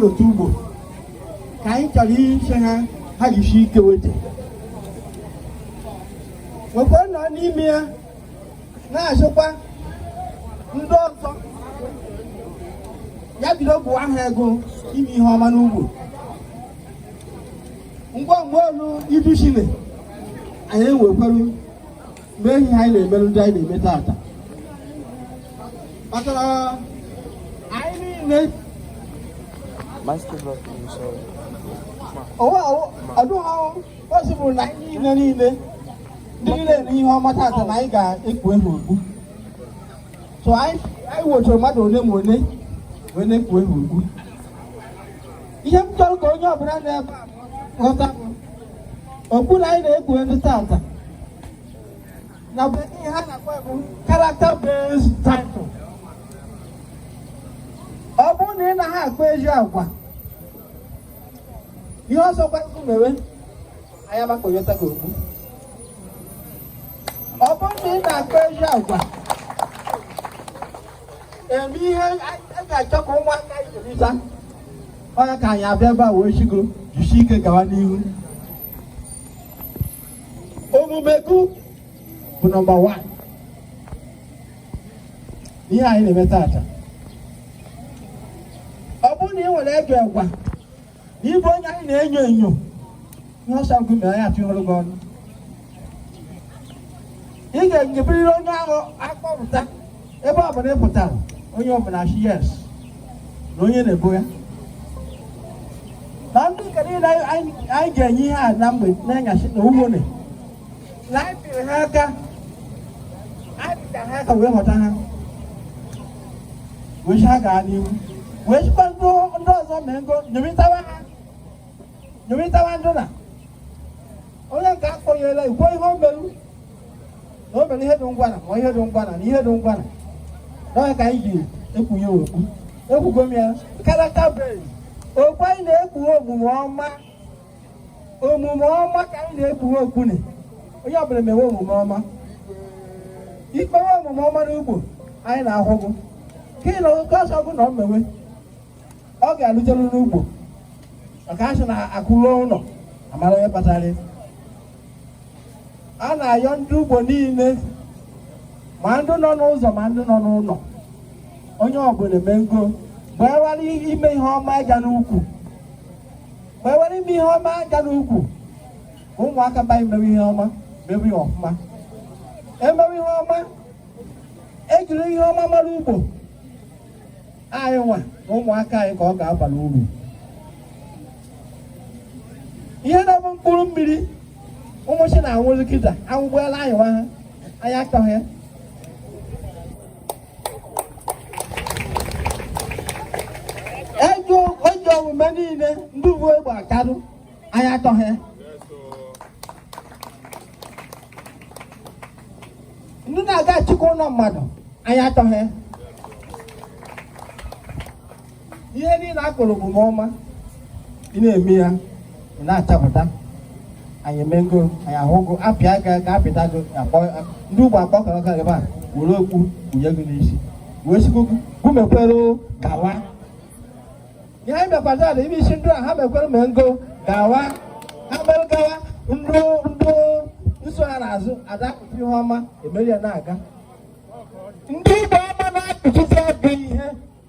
otu ugbo ka anyị chọrọ ịsị ha ha jisi ike weta wekwa nọ n'ime ya na-asịkwa ndị ọzọ ya bido bụ aha ego ime ihe ọma n'ugbo ngwa ngwa olu iduchile anyị enwekwaru mee ihe anyị na-emerụ ndị anyị na-eme taata maka na anyị niile ọ dụghọzi bụrụ na anyị niile niile ndị niile na ihe ọma taata na anyị ga-ekpu ehu okpu sọ anyị wetara mmadụ ole ma ole wee na-ekpu ehu okpu ihe m chọrọ ka onye ọbụla nọ ebe ghọta bụ okpu na anyị na-ekpu ehu tata na be ihe ha na-akpọ bụ character based title ọ bụrụ na ị naghị akpa ezi agwa ihe ọ sọkwa gị mewe anyị ama akpọyọta ka okpu ọ bụrụ na ị na-akpa ezi agwa eme ihe a ga-achọ ka ụmụaka ijerita ọ ya ka anyị abịa ebe a wee sị gụ jisi ike gawa n'ihu omume gị bụ number one ihe anyị na-eme tata ọ bụrụ na ị nwere ajọ agwa ị bụ onye anyị na-enyo enyo ihe ọ sọ gị mere ya tụnyere gị ọnụ ị ga-enyeberịrị onye ahụ a kpọpụta ebe ọ bụla ị pụtara onye ọbụla sị yes na onye na-ebo ya na ndị nke niile anyị ga-enye ihe a na mgbe enyasị na ugbo na ha aka ha aka wee họta ha wee sị ha gaa n'ihu wee sịkwa ndị ọzọ mee ngo nyomitawa ha nyomitawa ndụ na onye nke akpọnyela ikwu ihe o meru na o mere ihe dị ngwana ma ihe dị ngwana na ihe dị ngwana ọ ya ka anyị ji ekpu ya okpu ekwugo m ya character okpu anyị na-ekpu omume ọma omume ọma ka anyị na-ekpughe okpu nị onye ọbụla mewe omume ọma i mewe omume ọma n'ugbo anyị na-ahụ gụ ka nke ọ sọ gụ na ọ mewe ọ ga-alụjelu n'ugbo maka a sị na akụ luo ụlọ a mara onye kpatara a na-ayọ ndị ugbo niile ma ndị nọ n'ụzọ ma ndị nọ n'ụlọ onye ọbụla mee ngo gbaewara ime ihe ọma ịga n'ukwu ma e were ime ihe ọma ga n'ukwu ka ụmụaka be anyị mewe ihe ọma mewe ihe ọfụma emewe ihe ọma ejiri ihe ọma mara ugbo anyị nwa na ụmụaka anyị ka ọ ga-abara uru ihe na-abụ mkpụrụ mmiri ụmụchi na-anwụzi kịta anwụgbuela anyị nwa ha anyị achọghị ya ejọ omume niile ndị bu egbe akarụ anyị achọghị ndị na-aga achịkwa ụlọ mmadụ anyị achọghị ihe niile a kpọrọ omume ọma ị na-eme ya ị na-achapụta anyị emego anyị ahụgo apịa aka ka apịta gị ndị ugbo akpọkọrọ ka ebe a were okpu wunye gị n'isi wee sikwu gị mekwere gawa ihe anyị mekwara ala ime isi ndị a ha mekwere mee ngo gawa ha mere gawa ndị ndị na-eso ha n'azụ adapụta ihe ọma emeri ya na-aga ndị ugbo ọma na-akụchizi ọgụ ihe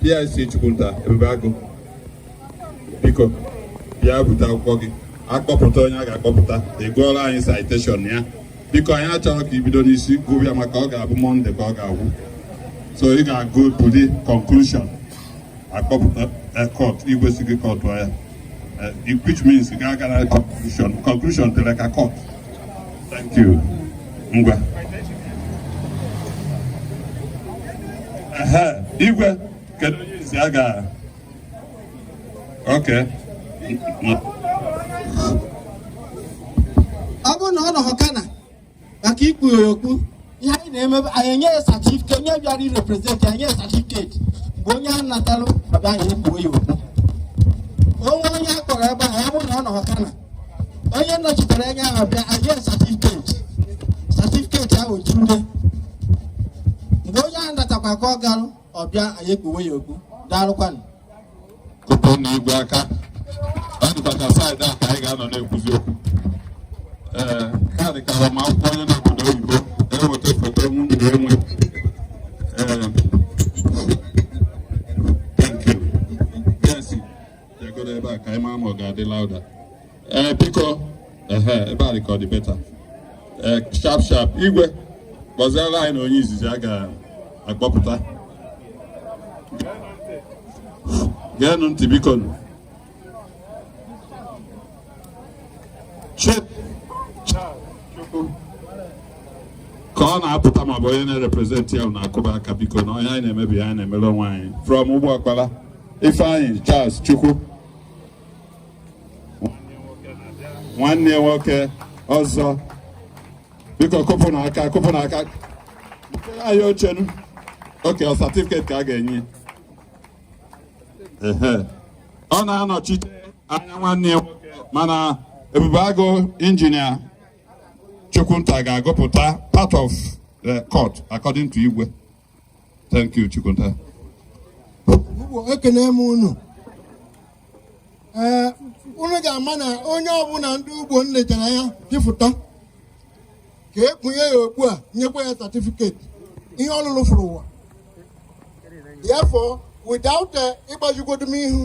PIC Chukwunta Ebube Agụ biko bịa bute akwụkwọ gị a kpọpụta onye a ga-akpọpụta ị gụọrọ anyị citation ya biko anyị achọrọ ka i bido n'isi gụwa ya maka ọ ga-abụ mọnde ka ọ ga-agwụ so ị ga-agụ to the conclusion akpọpụta cut eh, igwe sị gị cut ya eh, which means ị ga-aga na conclusion conclusion tere aka cut ngwa igwe kedu onye izizi a ga okay ọ bụrụ na ọ nọhọ kana maka ikpuwe ya okpu ihe anyị na-eme anyị enye ya certificate onye bịara irepresent anyị enye certificate bụ onye a natalụ ọ bịa anyị ekpuo ya okpu o nwee onye a kpọrọ ebe ahụ ya bụrụ na ọ nọhọ kana onye nọchitere anya ahụ bịa anyị enye certificate certificate ahụ jurule mgbe onye ahụ natakwa ka ọ garụ ọ bịa anyị ekpuwe ya okpu daalụkwanụ kụọrọnụ igwe aka ọ dịkwa ka side a ka anyị ga-anọ na-ekwuzi okwu ee ka ọ dị ka agbamakwụkwọ onye nọ obodo oyibo e weta foto nwunye enwe ee thank you yes jegoro ebe a ka anyị maa ma ọ ga-adị louder ee biko ehe ebe a dị ka ọ dị better ee sharp sharp igwe kpọziere anyị na onye izizi a ga-akpọpụta geenụ ntị bikonụ. Chief ka ọ na-apụta ma ọ bụ onye na-represent ya na-akụba aka biko na onye anyị na-emere ya anyị na-emere onwe anyị from ugbo ọkpala ifeanyị charles chukwu nwanne nwoke ọzọ biko kụpụ na aka kụpụ na aka anyị ochenu oke ọ satifiketi ka a ga-enye ọ na-anọchite anya nwanne ya nwoke mana ebube agụ injinia chukwunta ga-agụpụta part of the court according to igwe Thank you, Chukwunta. ekene m unu ee unu ga-ama na onye ọbụla ndị ugbo lechara anya dịfụta ka e kpunye ya okpu e nyekwa ya satifiketi ihe ọ lụlụ fụrụ ụwa therefore without eh, ịgbajugodu m ihu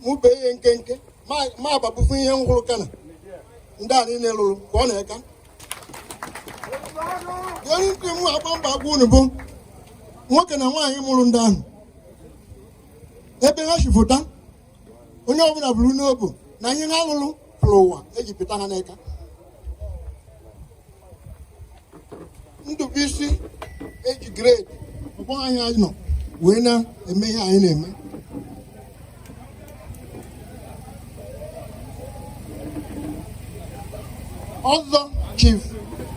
mụ bee ihe nkenke ma agbabufu ihe m hụrụ kana ndị a niile lụrụ ka ọ na-eka onye nke m agba mba agwa unu bụ nwoke na nwaanyị mụrụ ndị ahụ ebe ha si pụta onye ọbụla buru n'obu na ihe ha lụrụ fụrụ ụwa eji pụta ha n'aka ndụbụisi eji grade ọgbọ anyị anyị nọ wee na-eme ihe anyị na-eme ọzọ chief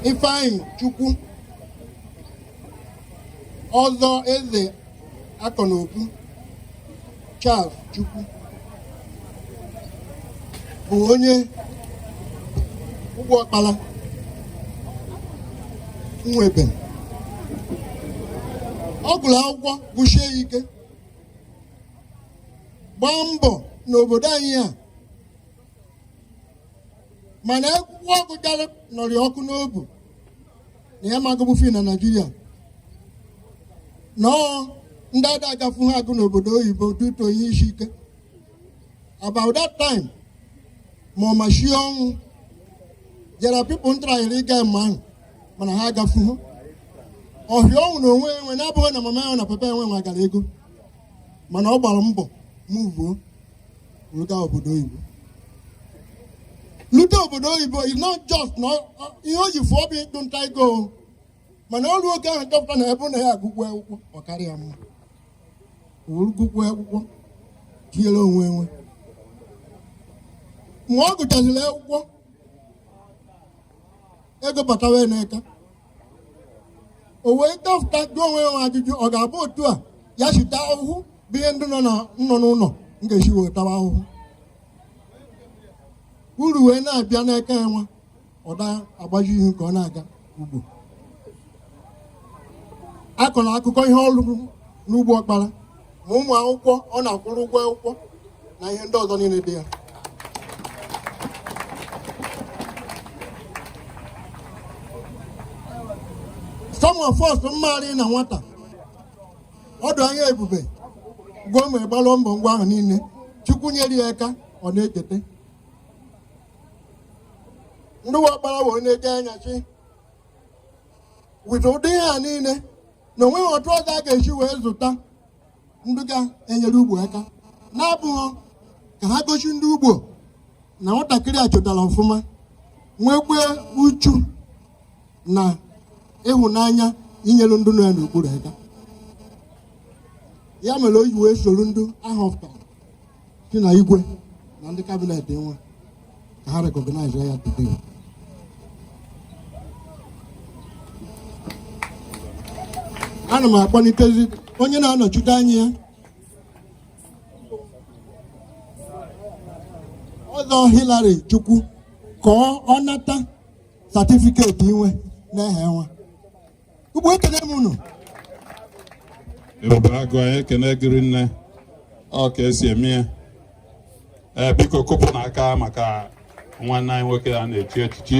ifeanyi chukwu ọzọ eze akọnaobu charles chukwu bụ onye ugbo ọkpara nwebe ọ gụrụ akwụkwọ gụshie ya ike gbaa mbọ n'obodo anyị a mana akwụkwọ ọgụ gara nụrị ọkụ n'obu na ya magụbụ fi na naijiria na ọ ndị a da agafu ha agụ n'obodo oyibo due to ihe isi ike about that time ma ọ machie ọnwụ jara pipụl ntarayịrị ịga mba ahụ mana ha agafu ha ọhịa ọnwụ na onwe enwe na-abụghị na mama enwe na papa enwe nwegara ego mana ọ gbara mbọ muvuo ruga obodo oyibo lute obodo oyibo is not just na ihe o ji fụọ bụ ịchụ nta ego mana o ru oge ahụ chọpụta na ebe na ya agụkwu akwụkwọ ọ karịa mma o ru gụkwu akwụkwọ tinyere onwe enwe mgbe ọ gụchaziri akwụkwọ ego batawa n'aka o wee dọpụta jụọ onwe ya ajụjụ ọ ga-abụ otu a ya shi ta ahụhụ bụ ihe ndị nọ na nọ n'ụlọ m ga-esi wee tawa ahụhụ uru wee na-abịa n'aka ya nwa ọ da agbaji ihu ka ọ na-aga ugbo akọrọ akụkọ ihe ọ rụrụ n'ugbo ọkpara ma ụmụ akwụkwọ ọ na-akwụrụ ụgwọ akwụkwọ na ihe ndị ọzọ niile dị ya some of us maara na nwata ọdụ anya ebube gwuo ma gbalụọ mbọ ngwa ahụ niile chukwu nyere ya ka ọ na-echeta ndị wakpara wee na-eje anya chi with ụdị ihe a niile na o nweghị otu ọzọ a ga-esi wee zụta ndị ga-enyere ugbo aka na-abụghị ka ha gosi ndị ugbo na nwatakịrị a chọtara ọfụma nwekwe uchu na ịhụnanya inyere ndị nọ ya n'okpuru aka ya mere o ji wee soro ndị a họpụtara gị na igwe na ndị cabinet nwa ka ha recognize ya today ana m akpọlitezi onye na-anọchite anya ya ọzọ Hillary Chukwu ka ọ nata certificate inwe n'ehe nwa ugbo ekene m unu ebube agụ anyị ekene gị rinne ọ ka e si eme ya ee biko kụpụnụ aka maka nwanne anyị nwoke a na-echi echichi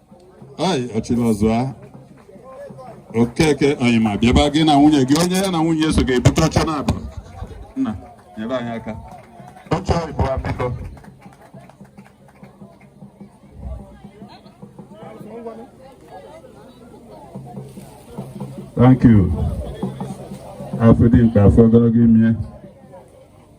ai ọchịlọzụa okeke oyima bịaba gị na nwunye gị onye ya na nwunye ya so ga-ebute oche naabụ nna nyere anyị aka oche ịbụ biko Thank you. Afọ dị mkpa afọ ogologo ime.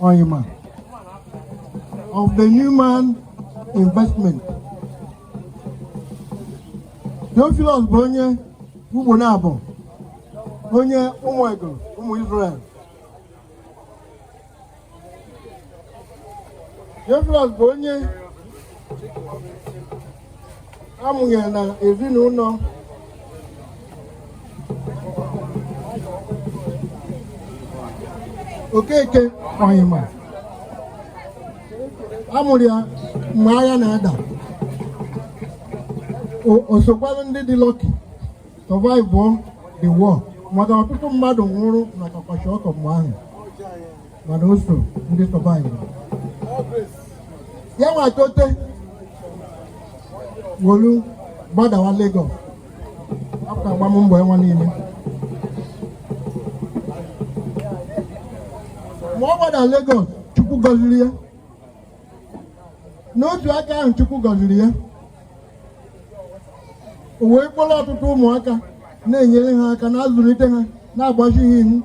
Oyima of the Newman Investment. Theophilus bụ onye ugbo na-abụ onye ụmụ ego ụmụ Israel. Theophilus bụ onye a mụnyere na ezinụlọ Okeke Oyima a mụrụ ya mgbe agha na-ada o sokwara ndị dị lucky survive the war maka ọtụtụ mmadụ nwụrụ n'aka kwashiorkor mgbe ahụ mana o so ndị survive ya wee tote were gbadawa Lagos after agbam mbọ enwe niile ma ọ gbada Lagos Chukwu gọziri ya n'otu aka ahụ Chukwu gọziri ya o wee kpọrọ ọtụtụ ụmụaka na-enyere ha aka na-azụlite ha na-agbazi ha ihu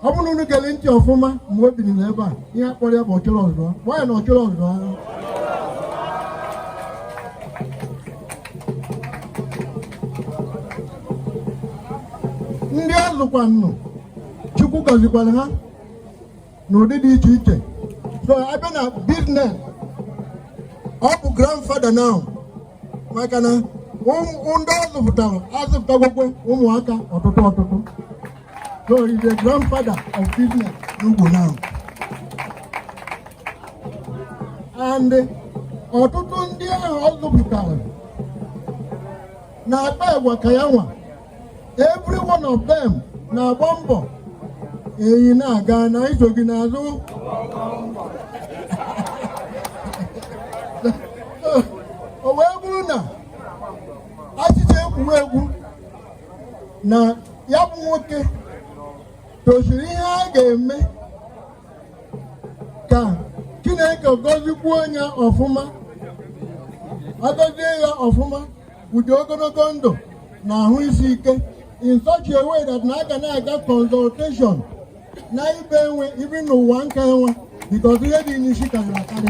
ọ bụrụ unu gere ntị ọfụma mgbe o biri n'ebe a ihe a kpọrọ ya bụ Ọchịrịọzụa bụ ya na ọ chịrị ọ zụa ndị ọ zụkwanụ Chukwu gọzikwara ha n'ụdị dị iche iche so a bịa na business ọ bụ grandfather now maka na ndị ọ zụpụtara azụpụtagokwa ụmụaka ọtụtụ ọtụtụ So he's the grandfather of business n'Ugbo now. And ọtụtụ ndị ahụ ọ zụpụtara na-akpa agwa ka ya nwa every one of them na-agba mbọ enyi na-aga na anyị so gị n'azụ o wee bụrụ na achịcha egwuregwu na ya bụ nwoke tosiri ihe a ga-eme ka Chineke gọzikwuo onye ọfụma agọzie ya ọfụma ụdị ogologo ndụ na ahụ isi ike in such a way that na a ga na-aga consultation na ibe enwe ibi n'ụwa nka enwe because ihe dị n'isi karịrị akarị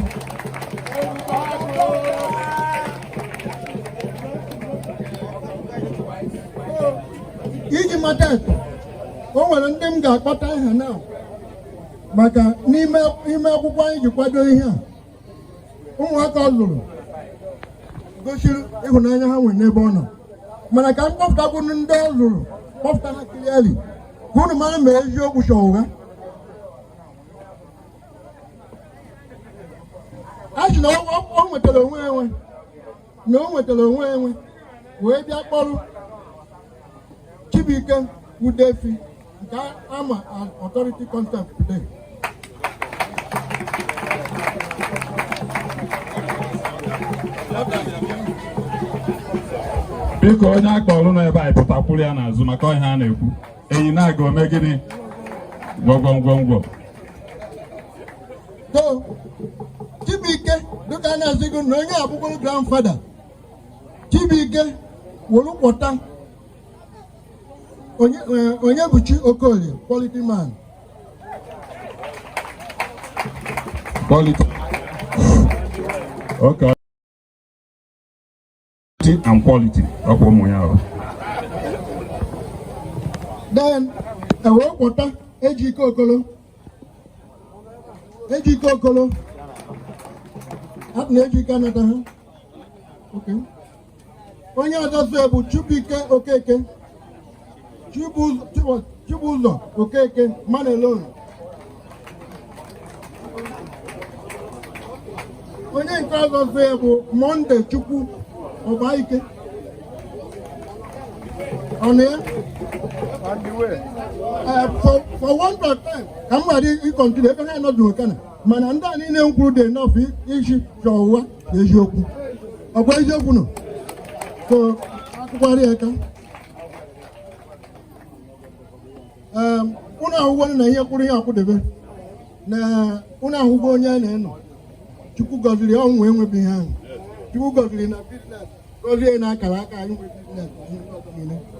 iji mata akọ o nwere ndị m ga-akpọta aha na maka n'ime akwụkwọ anyị ji kwado ihe a ụmụaka ọ lụrụ gosiri ịhụnanya ha nwere n'ebe ọ nọ mana ka m kpọpụtakwu ndị ọ lụrụ kpọpụta ha clearly ka unu mara ma eziokwu ka ọ ụgha a sị na ọ nwetara onwe enwe na o nwetara onwe enwe wee bịa kpọrọ Chibuike Udefi nke a ma authority contact today biko onye a kpọrọ nọ ebe a pụtakwuru ya n'azụ maka ihe a na-ekwu enyi na-aga o me gịnị gwọgwọngwọngwọ so Chibuike dịka a na-asị gị na onye a bụkwa grandfather Chibuike were kpọta Onyebuchi Okolie quality man quality okay and quality ọkwa ụmụ ya ahụ then e wee kpọta Ejike Okolo Ejike Okolo na Ejike anata ha onye ọzọ bụ Chibuike Okeke Chibuzọ Okeke Manelon onye nke ọzọ zọ ya bụ Monday Chukwu Ọgbaike ọnụ ya eh, for want of time ka m ghara ị-continue ebe ha nọdụ okana mana ndị a niile m kwuru dị enough iji chọọ ụwa eziokwu ọkwa eziokwu nọ so akụkwarị aka ụnụ ahụgwo na ihe kwụrụ ihe akwụdebe na ụnụ ahụgwo onye a na-enọ chukwu gọziri ọnwụ enwebeghị ahụ chukwu gọziri na biznes gozie na akara aka anyị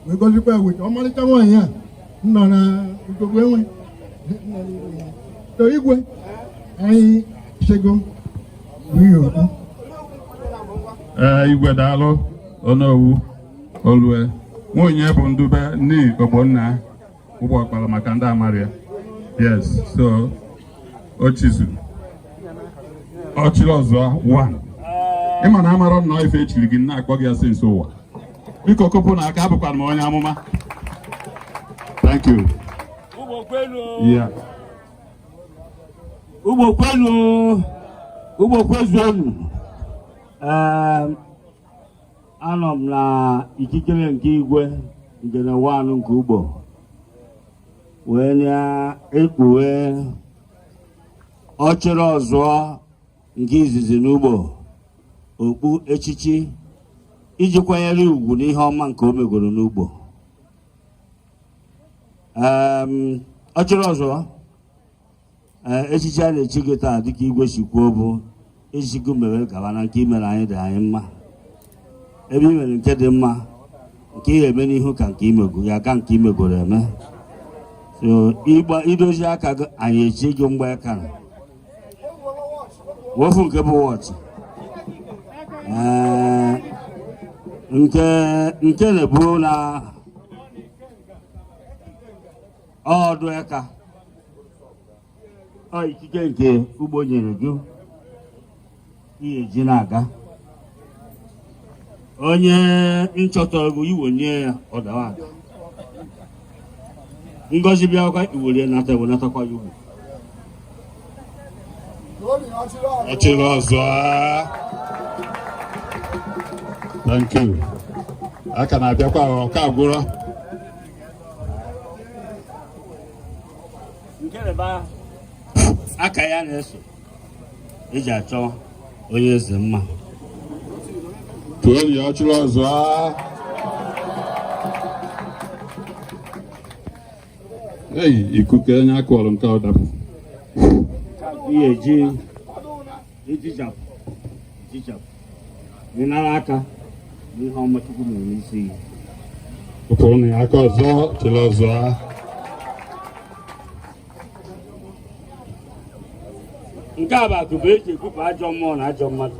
wee gozikwa ya weta ọmarịcha nwaanyị a nọ na ugogbu enwe so igwe anyị chego okwu ee igwe daalụ onowu olue nwunye bụ ndube nne ogbonna ugbo ọkpara maka ndị amarịa yes so ochizu ọchịrị ọzụọ one ị ma na amarọ nnọọ ife e chiri gị na-akpọ gị ya since ụwa biko kopụ na aka abụkwanụ m onye amụma thank you yeah ugbo kwenu ugbo kwezuonu anọ m na ikikere nke igwe ngene wanụ nke ugbo wee na-ekpuwe ọchịrị ọzụọ nke izizi n'ugbo okpu echichi iji kwanyere ugwu n'ihe ọma nke o megoro n'ugbo ọchịrị ọzụọ echichi a na-echi gị taa dịka igwe si kwuo bụ echichi ka i mere gaba na nke i mere anyị dị anyị mma ebe i mere nke dị mma nke ị ga-eme n'ihu ka nke i mego ya ka nke i megoro eme so ị ga-edozi aka gị anyị echi gị mgbaaka na wofu nke bụ wọchị nke nke na-ebu na ọdụ aka ọ ikike nke Ugbo nyere gị ihe ji na-aga onye nchọtara gị iwe nye ya ọ dawa ada ngozi bịakwa iwere nata ewe natakwa ya Ugbo Ọchịrịọzụọ thank you a ka na-abịakwa ọ ka agwụrọ nke a bụ aka ya na-eso eji achọ onye eze mma tụọli ya Ọchịrịọzụọ eyi ikuku onye akụọrọ nke ọ dapụ ihe eji ejichapụ ejichapụ ịnara aka n'ihe ọma Chukwu mere n'isi gị pụtụrụ na ya aka Ọzọ Ọchịrịọzụa nke a bụ akupe eji ekupụ ajọ mmụọ na ajọ mmadụ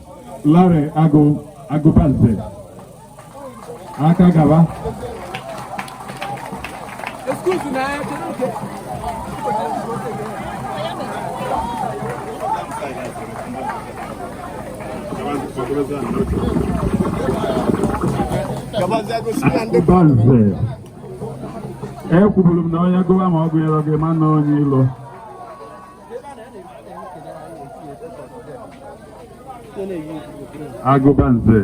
Larry Agụ Agụbanze aka gaba Agụbanze ekwuburu m na onye gụwa ma ọ gụnyerọ gị ma na onye ilo Agụbanze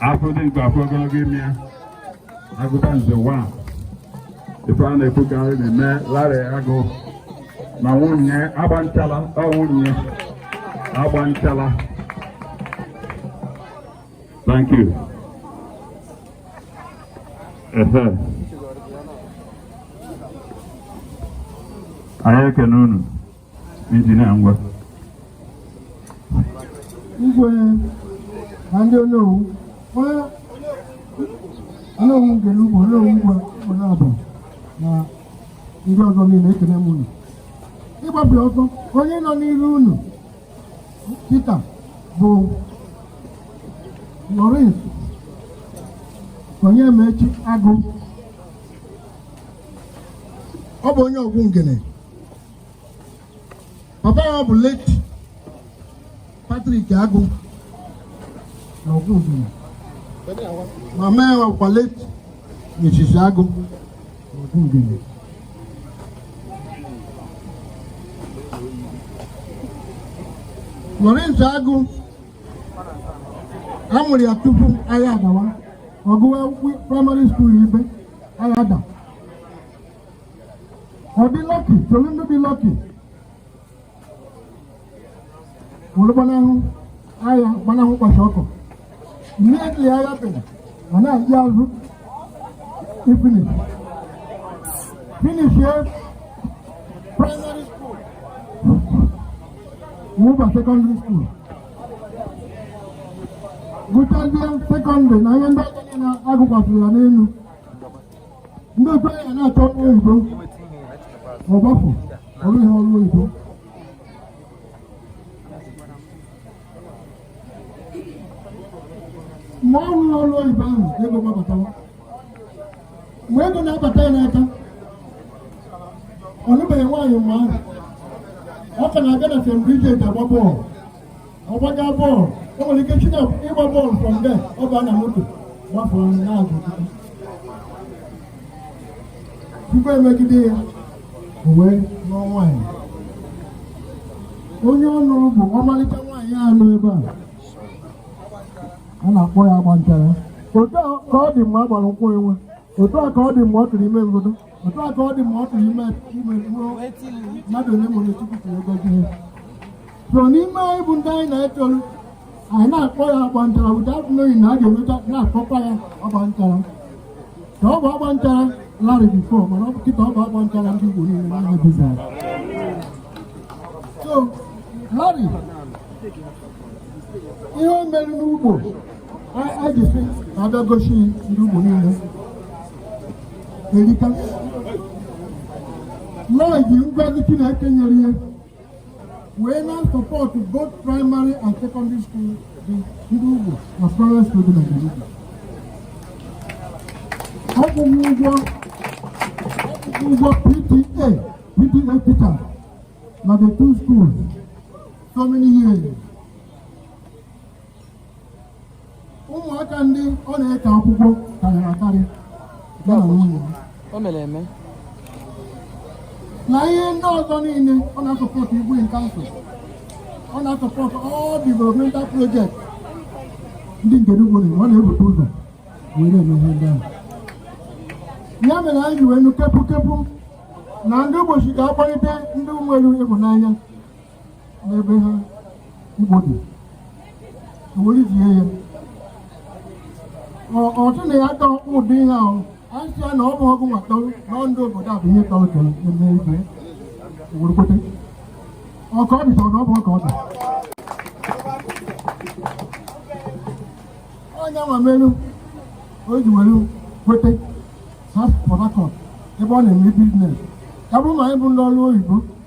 afọ dị mkpa afọ ogologo ime ya Agụbanze wa ife a na-ekwu ka ị na-eme Larry Agụ na nwunye agba nchala ọ nwunye agba nchala Thank you. Ehe. Anyị ekene unu injinia ngwa. Igwe na ndị onowu onye onowu Ngene Ugbo onowu nke Ugbonabo na ndị ọzọ niile ekene m unu ịgbapụ ọsọ onye nọ n'iru unu kịta bụ Lawrence Onyemaechi Agụ ọ bụ onye Ọgwụ Ngene papa ya bụ late Patrick Agụ na Ọgwụ Ngene mama ya bụkwa late Mrs. Agụ Lawrence Agụ a mụrụ ya tupu agha adawa ọ gụwa praịmarị skuul ibe agha ada ọ dị lọki solu ndị dị lọki were gbanahụ agha gbanahụ kwashiọkọ immediately agha biri ọ na-eje azụ ifinish finishie primary school wuba secondary school gụchazie sekọndịrị na ihe ndị a na-agụkwasị ya n'elu ndị be ya na-achọ ọrụ oyibo ọ gbapụ ọrụ ihe ọrụ oyibo mgbe ọ rụrụ ọrụ oyibo ahụ ego gbabatawa mgbe ego na-abata ya n'aka ọ nụbeghị nwaanyị mgbe ahụ ọ ka na-aga na St. Bridget agba bọọlụ ọ gbaga bọọlụ o nwere ike shi na ịgba bọọlụ from there ọ baa na moto gbafụrụ anyị na-agụ tupu e megide ya o wee lụọ nwaanyị onye ọ nụrụ bụ ọmalịcha nwaanyị a nọ ebe a a na-akpọ ya agba nchara otu a ka ọ dị mgbe a gbara nkwụ enwe otu a ka ọ dị mgbe ọ tụrụ ime mbodo otu a ka ọ dị ma ọ tụrụ ime ime ruo mmadụ onye mụrụ Chukwu ka ego gị so n'ime anyị bụ ndị na-etolu anyị na-akpọ ya agba nchara ụda atụleghị na a ga-enweta na-akpọkwa ya agba nchara ka ọ bụ agba nchara larị before mana ọ bụ kịta ọ bụ agba nchara ndị Igbo niile na ihe bizara so larị ihe o mere n'Ugbo a ji sị ka a bịa gosi ndị Igbo niile erika Law ji ngọzi Chineke nyere ya wee na support both primary and secondary school dị n'Ugbo na private school dị na Ngene. Ọ kwụgo ụgwọ ụgwọ PTA PTA teacher na the two schools so many years. ụmụaka ndị ọ na-eke akwụkwọ karịrị akarị ya na nwunye ya. o mere eme na ihe ndị ọzọ niile ọ na-asupport Igwe in Council ọ na-asupport all developmental project ndị Ngene Ugbo na ọ na-ebute ụzọ wee na-eme ihe ndị ahụ ya mere anyị ji wee nụ kepu kepu na ndị bishop ga-akpọlite ndị nwere ịhụnanya n'ebe ha Igbo dị were ijie ya ọtụ na ya dọ ụdị ihe ahụ anyị sịa na ọ bụ ọgụ nwa tọrọ na ndị obodo a bụ ihe tọrọ tọrọ eme ibe were kwete ọka ọ dịtọrọ na ọ bụ ọka ọ dị onye nwa melu o ji were kwete ha Port Harcourt ebe ọ na-eme biznes ya bụrụ ma anyị bụ ndị ọrụ oyibo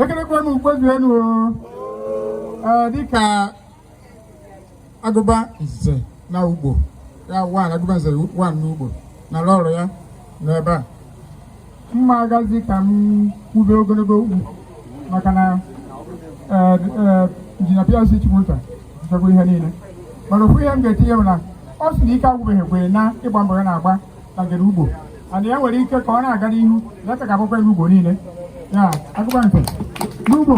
ekelekwa m ugbozuelu dịka agụba nze na ugbo ya one agụba nze one n'ugbo na lọlọ ya n'ebe a m ma agazi ka m kwube ogologo okwu maka na eh, eh, injinia PLC Chukwunta zụchagbu ihe niile mana ofu ihe m ga-etinye bụ na ọ sị na ike agwụbeghị kwa ya n'ịgba mbọ ya na-agba na-enyere Ugbo aka ya nwere ike ka ọ na-aga n'ihu ya ka ga-agbakwa ya ugbo niile ya agụba nze n'ugbo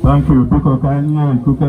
Thank you. Biko ka anyị nye ikuku.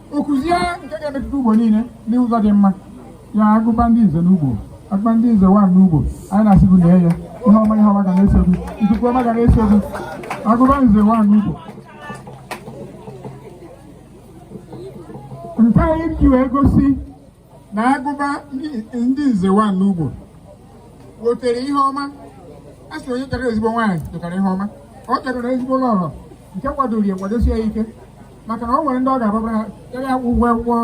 Okuzie nke ga-emetụta ugbo niile n'ụzọ dị mma ya agụba ndị nze n'ugbo agụba ndị nze one n'ugbo anyị na-asị gị lee ya ihe ọma ihe ọma ga na-eso gị ikuku ọma ga na-eso gị agụba nze one n'ugbo nke anyị ji wee gosi na agụba ndị nze one n'ugbo wetere ihe ọma a sị onye chọtara ezigbo nwaanyị chọtara ihe ọma ọ chọtara ezigbo lọlọ nke kwadoro ya kwadosie ya ike maka na ọ nwere ndị ọ ga-ababara ya ya akwụ ụgwọ akwụkwọ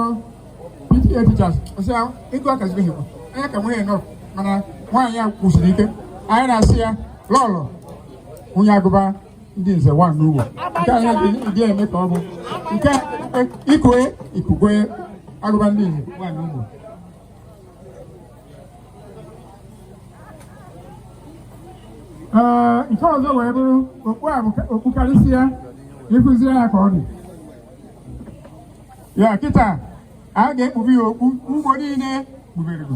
PTA teachers ọ sị ya ịgụ akazibeghị kwa anya ka nwunye nọ mana nwaanyị ya kwụsiri ike anyị na-asị ya lọlọ nwunye agụba ndị nze one n'ugbo nke anyị ji eme ka ọ bụ nke ikue ikukwe agụba ndị nze one n'ugbo ee nke ọzọ wee bụrụ okpu a okpu karịsịa ịkụzi ya ka ọ dị ya kịta a ga-ekpube ya okpu ugbo niile kpuberego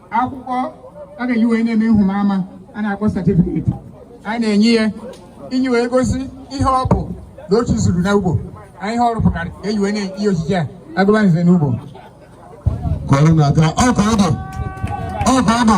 akwụkwọ a ga-eji wee na-eme nhụba ama a na-akpọ satifiketi a na-enye ya iji wee gosi ihe ọ bụ na otu zuru na ugbo anyị ihe ọ rụpụtara ka e ji wee na-enye ochichi a agụba nze na ugbo kọrọ na aka ọ ka ọ bụ ọ ka ọ bụ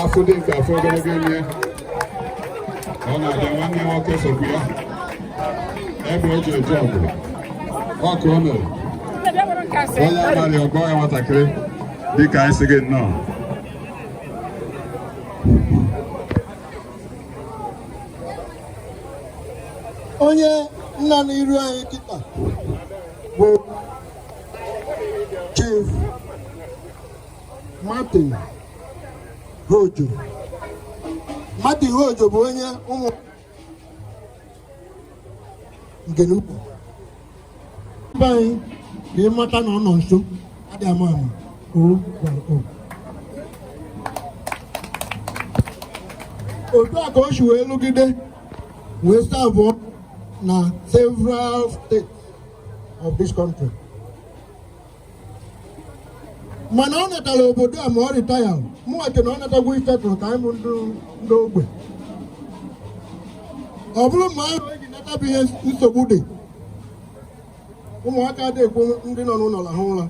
afọ dị nke afọ ogologo ime ọ na-abịa nwanne nwoke sokwu ya ebe o ji eje ọgụ ọkụ o mere onye abalị ọgọ ya nwatakịrị dịka anyị sị gị nnọọ onye nọ na iru anyị kịta bụ chief Martin Hojo Martin Hojo bụ onye ụmụ ngene ukwu mba anyị ka ịmata na ọ nọ nso adị ama ama o gwara otu a ka o si wee lụgide wee serve-ụọ na several states of this country mana ọ natara obodo a ma ọ retire mụnwa ke na ọ natagwo ifetụrụ ka anyị bụ ndị ogbe ọ bụrụ ma ahụ eji natabụ ihe nsogbu dị ụmụaka adịghị ekwe ndị nọ n'ụlọ raha ụra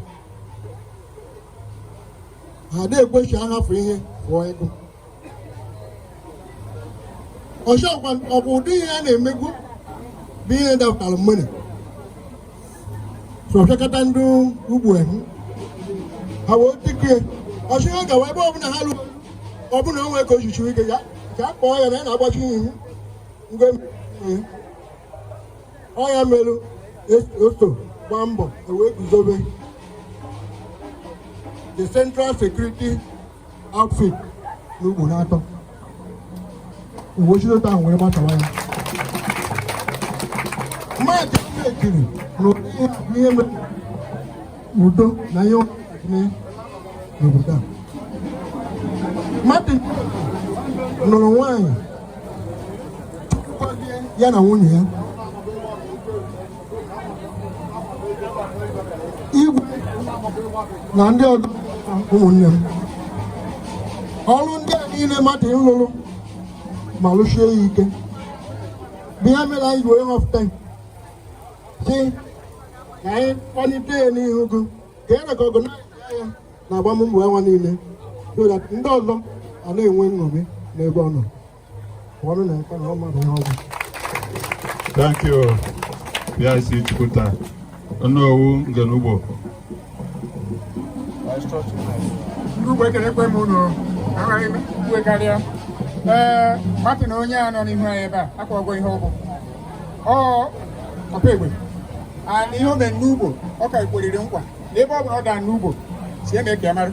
ha adịghị ekwe sị a hafụ ihe pụọ ego ọzọkwa ọ bụ ụdị ihe a na-emegbu bụ ihe dapụtara mmiri sọfịakọta ndị Ugbo ehu ha wee tikie ọchị ha gawa ebe ọbụla ha lụrụ ọbụla onwe ka ochichi ike ya ka a kpọọ ya na ya na-agbachi ihu mgbe ọ ya merụ ọsọ gbaa mbọ e wee guzobe the central security outfit na Ugbo n'atọ o wee si otu ahụ were batawa ya mmadụ ekiri na ihe mere udo na ihe n'obodo a mmadụ nụrụ nwaanyị ya na nwunye ya igwe na ndị ọdọ ụmụnne m ọrụ ndị a niile mmadụ a lụrụ ma lụshie ya ike bụ ihe mere anyị wee họpụta sị ka anyị kpọlite ya n'ihu gị ka e recognize ya na agbammbọ ya nwa niile so that ndị ọzọ a na-enwe nṅomi n'ebe ọ nọ Thank you, PIC Chukwuta. Onowu Ngenugbo. Ugbo ekele ekwe m unu agaghị ikwe karịa. Ee, mmadụ na onye a nọ n'ihu anyị ebe a akwa ọgwọ ihe ọgwụ. Ọ ọpa egbe. Ana ihe o mere n'Ugbo, ọ ka ekweriri nkwa. N'ebe ọ bụla ọ daa n'Ugbo, sị e mee ka ya mara.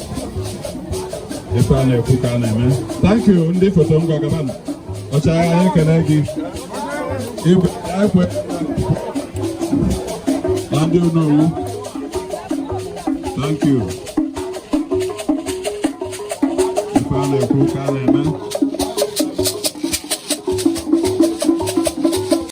ife a na-ekwu ka a na-eme thank you ndị foto ngwa gaba ọchịagha anyị ekene gị igwe ekwe na ndị onowu thank you ife a na-ekwu ka a na-eme